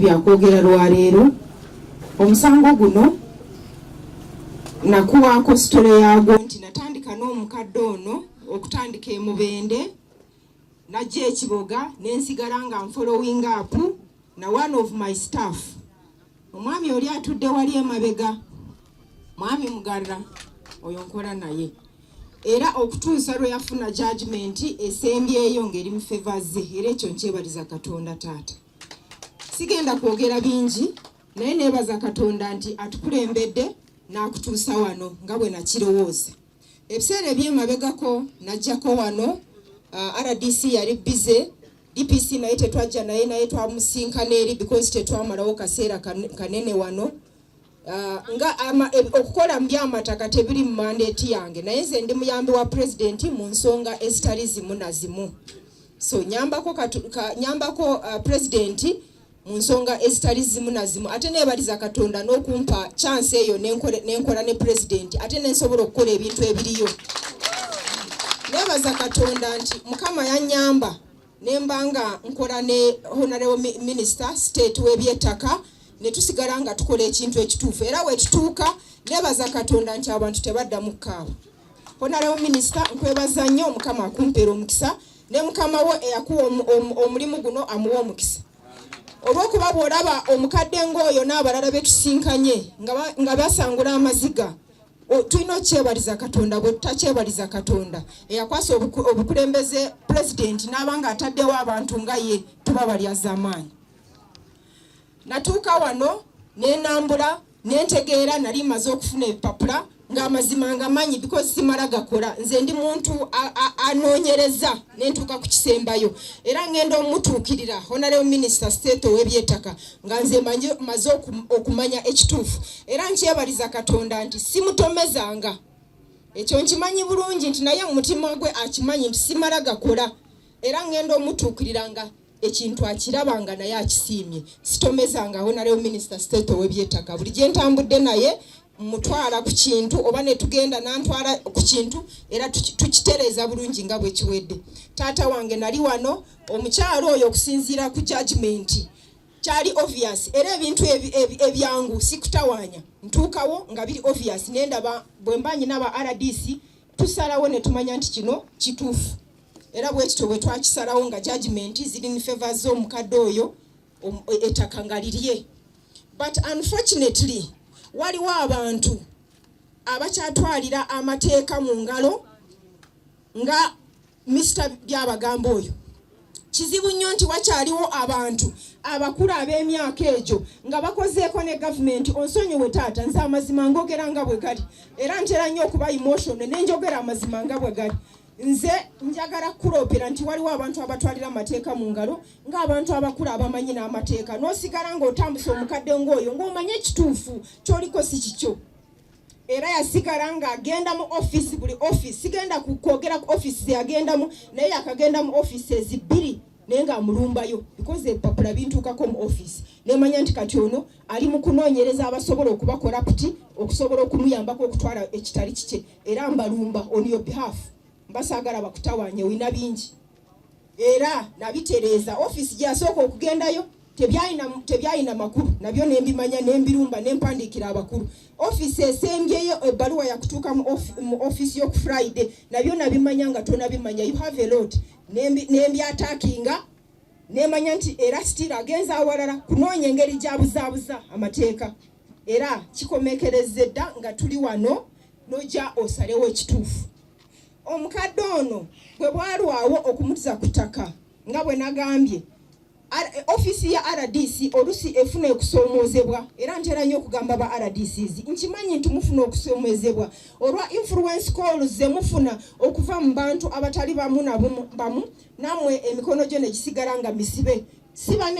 byakwogera lwaleero omusango guno nakuwaako sitole yaagwo nti natandika n'omukadde ono okutandika emubende najja ekiboga nensigala nga nfollowing up na one of my staff omwami oli atudde wali emabega mwami mugarra oyo nkola naye era okutuusa lwe yafuna jajimenti esembyeyo ng'eri mu fevazze era ekyo nkyebaliza katonda taata sigenda kwogera bingi naye neebaza katonda nti atukulembedde n'akutuusa wano nga bwe nakirowooza ebiseera ebyemabegako najjako wano uh, rdc yali bize dpc naye tetwajja naye naye twamusinkana eri because tetwamalawo kaseera kanene wano Uh, nga ama, e, okukola mu byamataka tebiri mu mandeeti yange naye nze ndi muyambi wa pulezidenti mu nsonga ezitali zimu na zimu so nyambako, katu, ka, nyambako uh, pulezidenti mu nsonga ezitali zimu na zimu ate nebaliza katonda n'okumpa chansi eyo nenkola ne pulezidenti ate nensobola okukola ebintu ebiriyo nebaza katonda nti mukama yanyamba nemba nga nkola ne honarebo minisita state w'ebyettaka ne tusigala nga tukola ekintu ekituufu era wetutuuka nebaza katonda nti abantu tebadda mu kaawa honarebo minisita nkwebaza nnyo mukama akumpeera omukisa ne mukama wo eyakuwa omulimu guno amuwa omukisa olwokuba bwolaba omukadde ng'oyo n'abalala betusinkanye nga basangula amaziga tulina okyebaliza katonda bwe tutakyebaliza katonda eyakwasa obukulembeze pulezidenti n'aba nga ataddewo abantu nga ye tuba balyazamaanyi natuuka wano nenambula nentegeera nali maze okufuna ebipapula ng'amazima nga manyi because simala gakola nze ndi muntu anoonyereza nentuuka ku kisembayo era ngenda omutuukirira honareo minisita state ow'ebyetaka nga nze maze okumanya ekituufu era nkyebaliza katonda nti simutomezanga ekyo nkimanyi bulungi nti naye mumutima gwe akimanyi nti simala gakola era ngenda omutuukirira nga ekintu akiraba nga naye akisiimye sitomezanga awo nalewo minisita state owebyettaka buli gye ntambudde naye mutwala ku kintu oba netugenda nantwala ku kintu era tukitereeza bulungi nga bwekiwedde taata wange nali wano omukyalo oyo okusinziira ku jajimenti kyali obvious era ebintu ebyangu sikutawaanya ntuukawo nga biri obvious nendaba bwe mba nyina ba rdc tusalawo ne tumanya nti kino kituufu era bwekityo bwe twakisalawo nga judgment ziri in favor z'omukadde oyo ettaka nga lirye but unfortunately waliwo abantu abakyatwalira amateeka mu ngalo nga Mister Byabagamba oyo kizibu nnyo nti wakyaliwo abantu abakulu ab'emyaka egyo nga bakozeeko ne gavumenti onsonyiwe taata nze amazima ngogera nga bwe gali era ntera nnyo okuba emotion ne njogera amazima nga bwe gali nze njagala kukuloopera nti waliwo abantu abatwalira amateeka mu ngalo ng'abantu abakulu abamanyi n'amateeka n'osigala ng'otambuse omukadde ng'oyo ng'omanye ekituufu kyoliko si kikyo era yasigala nga agenda mu office buli office sigenda kwogera ku office zeyagendamu naye yakagenda mu office ezibbiri naye nga amulumbayo because ebipapula bintuukako mu office nemanya nti kati ono ali mu kunoonyereza abasobola okuba koraputi okusobola okumuyambako okutwala ekitali kikye era mbalumba on your behalf mbasaagala bakutawanye wina bingi era nabitereeza ofiisi gyeyasooka okugendayo tebyalina makulu nabyo nembimanya nembirumba nempandiikira abakulu ofiisi esembyeyo ebbaluwa yakutuuka mu ofiisi yoku friday nabyo nabimanya nga tonabimanya you have a lot nembyatakinga nemanya nti era sitira agenza awalala kunoonya engeri gyabuzaabuza amateeka era kikomekerezza edda nga tuli wano noja osalewo ekituufu Omukadde ono bwe bwalwawo okumutuza ku ttaka nga bwe nagambye ofiisi ya rdc olusi efuna okusoomoozebwa era ntera nnyo okugamba ba rdcs nkimanyi nti mufuna okusoomoozebwa olwa influence calls ze mufuna okuva mu bantu abatali bamu na bamu namwe emikono gyo ne gisigala nga misibe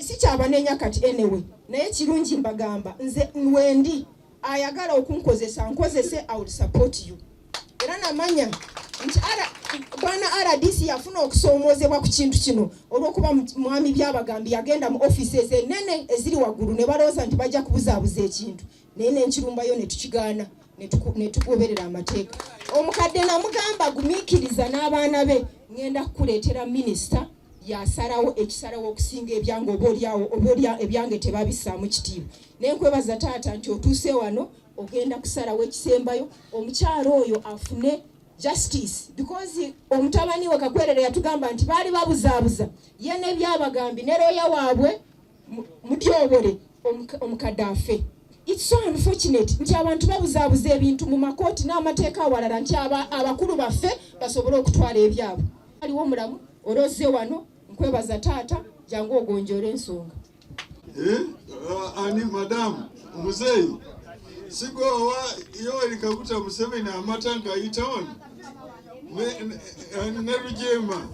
sikyabanenya kati anyway naye kirungi mbagamba nze wendi ayagala okunkozesa nkozese i will support you era namanya nti bwana rdc yafuna okusoomoozebwa ku kintu kino olw'okuba mwami byabagambi yagenda mu ofiisi ezo enene eziri waggulu ne balowooza nti bajja kubuzaabuza ekintu naye nenkirumbayo ne tukigaana ne tugoberera amateeka omukadde namugamba gumiikiriza n'abaana be ŋŋenda kukuleetera minisita yasalawo ekisalawo okusinga ebyange obaolyawo obaolya ebyange tebabisaamu kitiibwa naye nkwebaza taata nti otuuse wano ogenda kusalawo ekisembayo omukyalo oyo afune justice because omutabani we kakwerere yatugamba nti baali babuzaabuza ye nebyabagambi ne looya waabwe mutyobole omukadde afe it's so unfortunate nti abantu babuzaabuza ebintu mu makooti n'amateeka awalala nti abakulu baffe basobole okutwala ebyabwe aliwo mulamu oloze wano nkwebaza taata jangu ogonjoola ensonga eh, uh, ani madamu muzeeyi sigoowa yoweri kaguta museveni amata ngayita wano ne lujeema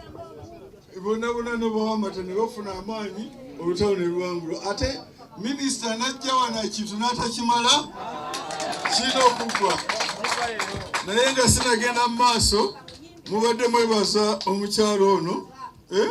bonna bonna nobawa amata ne bafuna amaanyi olutalo ne luwangula ate minisita najja wano ekintu n'atakimala kirina okuggwa naye nga sinagenda mu maaso mubadde mwebaza omukyalo ono eh?